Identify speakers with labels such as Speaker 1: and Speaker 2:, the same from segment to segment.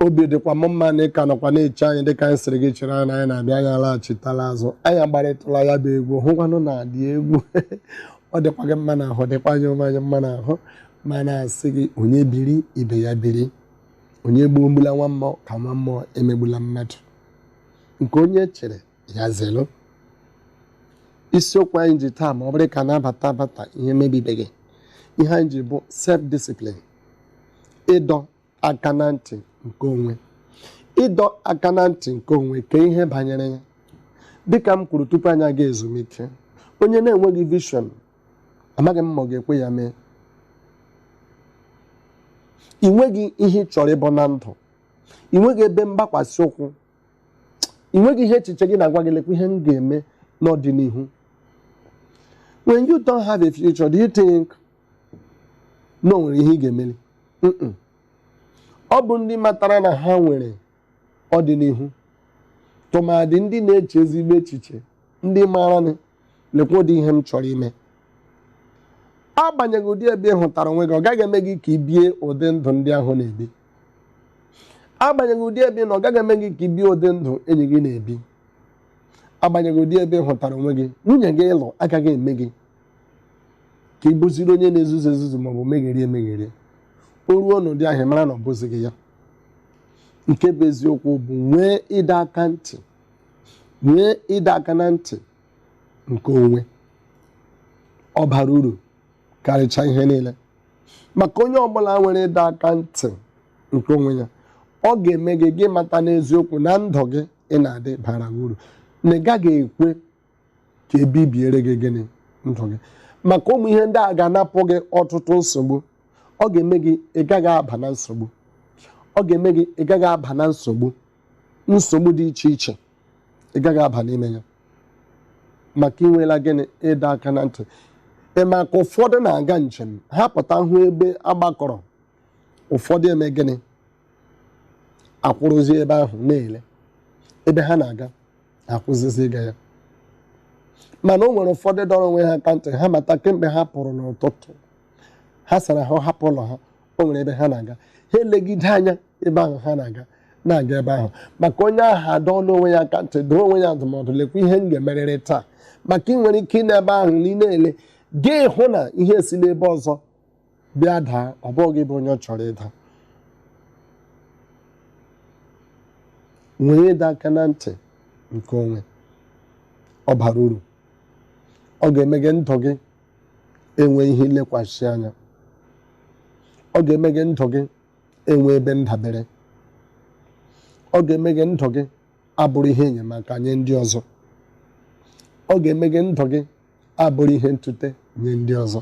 Speaker 1: obi dịkwa m mma na ị ka nọkwa na-eche anyị dịka anyị sịrị gị chere anyị na anyị na-abịa anyị alaghachitala azụ anyị agbarịtụla ya bụ egwu hụkwanụ na adị egwu ọ dịkwa gị mma n'ahụ dịkwa anyị onwe anyị mma n'ahụ ma na-asị gị onye biri ibe ya biri onye gbuo emegbula nwa mmụọ ka nwa mmụọ emegbula mmadụ nke onye chiri ya zelu isiokwu anyị ji taa ma ọ bụrụ ka na-abata abata ihe mebibeghị ihe anyị ji bụ self discipline ịdọ aka na ntị nke onwe ịdọ aka na ntị nke onwe ka ihe banyere ya dịka m kwuru tupu anyị aga ezumike onye na-enweghị vision amaghị m ma ọ ga-ekwe ya mee ị nweghị ihe ị chọrọ ịbụ na ndụ ị nweghị ebe mgbakwasị ụkwụ ị nweghị ihe echiche gị na-agwa gị lekwa ihe m ga-eme n'ọdịnihu when you don't have a future do you think na o nwere ihe ị ga-emeli ọ bụ ndị matara na ha nwere ọdịnihu tụmadị ndị na-eche ezigbo echiche ndị maara na lekwa ụdị ihe m chọrọ ime agbanyeghị ụdị ebe ị hụtara onwe gị ọ gaghị eme gị ka ị bie ụdị ndụ ndị ahụ na-ebi agbanyeghị ụdị ebe ị nọ ọ gaghị eme gị ka ị bie ụdị ndụ enyi gị na-ebi agbanyeghị ụdị ebe ị hụtara onwe gị nwunye gị ị lụ agaghị eme gị ka ị bụziri onye na-ezuzu ezuzu maọbụ megherie emegherie o ruo n'ụdị ahụ ị mara na ọ bụzighị ya nke bụ eziokwu bụ nwee ịdọ aka ntị nwee ịdọ aka na ntị nke onwe ọ bara uru karịchaa ihe niile maka onye ọbụla nwere ịdọ aka ntị nke onwe ya ọ ga-eme gị ị mata n'eziokwu na ndụ gị ị na-adị bara uru na ị gaghị ekwe ka e bibiere gị gịnị ndụ gị maka ụmụ ihe ndị a ga-anapụ gị ọtụtụ nsogbu ọ ga-eme gị ị gaghị aba na nsogbu ọ ga-eme gị ị gaghị aba na nsogbu nsogbu dị iche iche ị gaghị aba n'ime ya maka i nwela gịnị ịdọ aka na ntị ị ma ka ụfọdụ na-aga njem ha pụta hụ ebe a gbakọrọ ụfọdụ eme gịnị akwụrụzi ebe ahụ na-ele ebe ha na-aga akwụsịzi ịga ya mana o nwere ụfọdụ dọrọ onwe ha aka ntị ha mata kemgbe ha pụrụ n'ụtụtụ ha sara ahụ hapụ ụlọ ha o nwere ebe ha na-aga ha elegide anya ebe ahụ ha na-aga na-aga ebe ahụ maka onye ahụ adọọla onwe ya aka ntị dụọ onwe ya ndụmọdụ lekwa ihe m ga-emerịrị taa maka ị nwere ike ịnọ ebe ahụ na ị na-ele gị hụ na ihe si n'ebe ọzọ bịa daa ọ bụ gị bụ onye ọ chọrọ ịda nwee ịdọ aka na ntị nke onwe ọ bara uru ọ ga-eme gị ndụ gị enwe ihe ilekwasị anya ọ ga-eme gị ndụ gị enwe ebe ndabere ọ ga-eme gị ndụ gị abụrụ ihe enyemaka nye ndị ọzọ ọ ga-eme gị ndụ gị abụrụ ihe ntute nye ndị ọzọ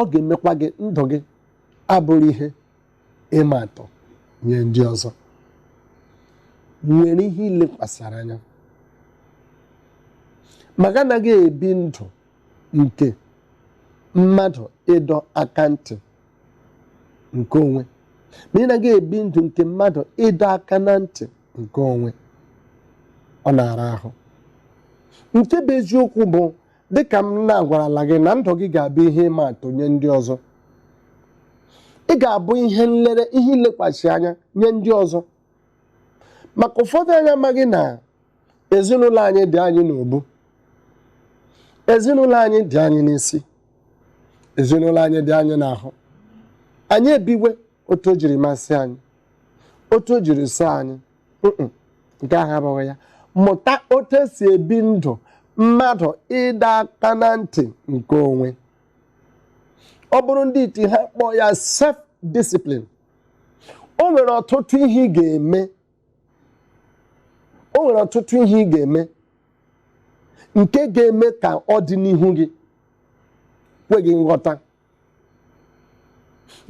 Speaker 1: ọ ga-emekwa gị ndụ gị abụrụ ihe ịma atụ nye ndị ọzọ nwere ihe ilekwasịrị anya ma gị anaghị ebi ndụ nke mmadụ ịdọ aka ntị nke onwe ma ị naghị ebi ndụ nke mmadụ ịdọ aka na ntị nke onwe ọ na-ara ahụ nke bụ eziokwu bụ dịka m na-agwarala gị na ndụ gị ga-abụ ihe ịma atụ nye ndị ọzọ ị ga-abụ ihe nlere ihe ilekwasị anya nye ndị ọzọ maka ụfọdụ anyị amaghị na ezinụlọ anyị dị anyị n'ubu ezinụlọ anyị dị anyị n'isi ezinụlọ anyị dị anyị n'ahụ anyị ebiwe otu o jiri masị anyị otu o jiri sọ anyị nke ahụ abụghị ya mụta otu esi ebi ndụ mmadụ ịdọ aka na ntị nke onwe ọ bụrụ ndị iti ha kpọọ ya self discipline o nwere ọtụtụ ihe ị ga-eme o nwere ọtụtụ ihe ị ga-eme nke ga-eme ka ọ dị n'ihu gị kwe gị nghọta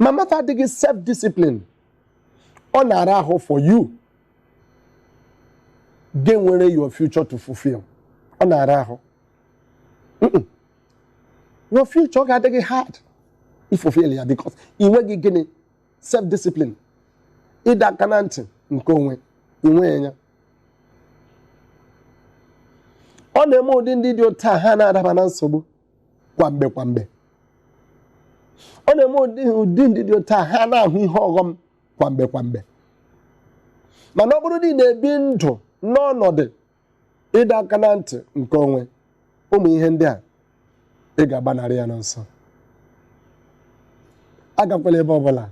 Speaker 1: ma mmadụ adịghị self discipline ọ na-ara ahụ for you ga-enwere your future to fulfill ọ na-ara ahụ your future ga-adị gị hard ifulfill ya because ị nweghị gịnị self discipline ịdọ aka na ntị nke onwe ị nweghị ya ọ na-eme ụdị ndị dị otu a ha na-adaba na nsogbu kwa mgbe kwa mgbe ọ na-eme ụdị ndị dị otu a ha na-ahụ ihe ọghọm kwa mgbe kwa mgbe mana ọ bụrụ na ị na-ebi ndụ n'ọnọdụ ịdọ aka na ntị nke onwe ụmụ ihe ndị a ị ga-agbanarị ya n'ọsọ agakwala ebe ọbụla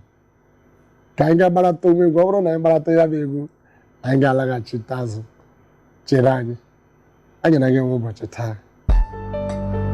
Speaker 1: ka anyị gaa gbarata onwe egwu ọ bụrụ na anyị gbarata ya bụ egwu anyị ga-alaghachite azụ chere anyị anyị na gị nwe ụbọchị taa